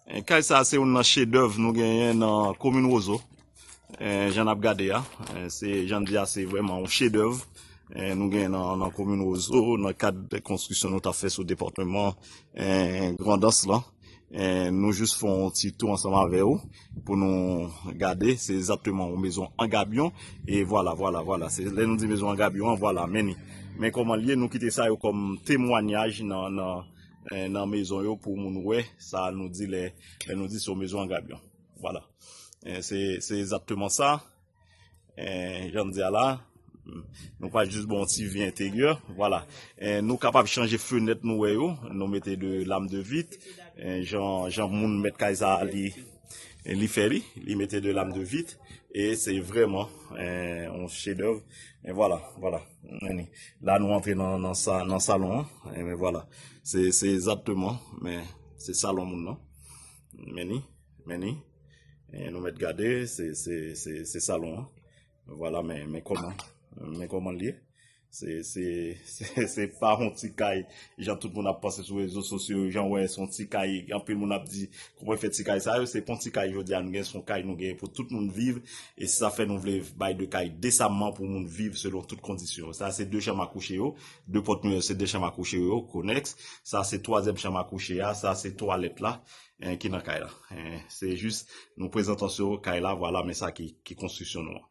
Kay sa se youn nan chedèv nou genyen nan komin Wozo. Jan nap gade a, se jan n di a se vrèman yon chedèv nou genyen nan komin Wozo nan kad konstriksyon nou ta fè sou depatman Grandans lan. Nou jis fè yon ti tou ansanm avè ou pou nou gade se egzatteman yon mezon an gabyon e vwala vwala vwala se lè nou di mezon an gabyon an vwala men ni. Men kòman l ye nou kite sa yo kòm temwanyaj nan. nan mezon yo pou moun wè sa nou di lè nou di se yon mezon an gabyon wala se ezatteman sa jan m di a la nou pa jis bon ti vi enteryè wala nou kapab chanje fenèt nou wè yo nou mete de lam de vit jan moun met kay sa li E li fè li, li mete de lam de vit, e se vreman yon eh, chedèv. E vwala, vwala. La nou antre nan salon an, e men vwala. Se ezatteman, men, se salon moun nan. Meni, meni. E nou met gade, se salon an. Vwala, men, men koman, men koman liye. Se pa yon ti kay jan tout moun ap panse sou rezo sosyo jan wè son ti kay anpil moun ap di kouman fè ti kay sa yo se pon ti kay jodi a nou gen son kay nou gen pou tout moun viv e se sa fè nou vle bay de kay desamman pou moun viv selon tout kondisyon sa se de chanm a kouche yo de pòt mè yo se de chanm a kouche yo konèks sa se twazyèm chanm a kouche ya sa se twalèt la ki nan kay la se jis nou prezantansyon kay la vwala men sa ki konstriksyon nou an.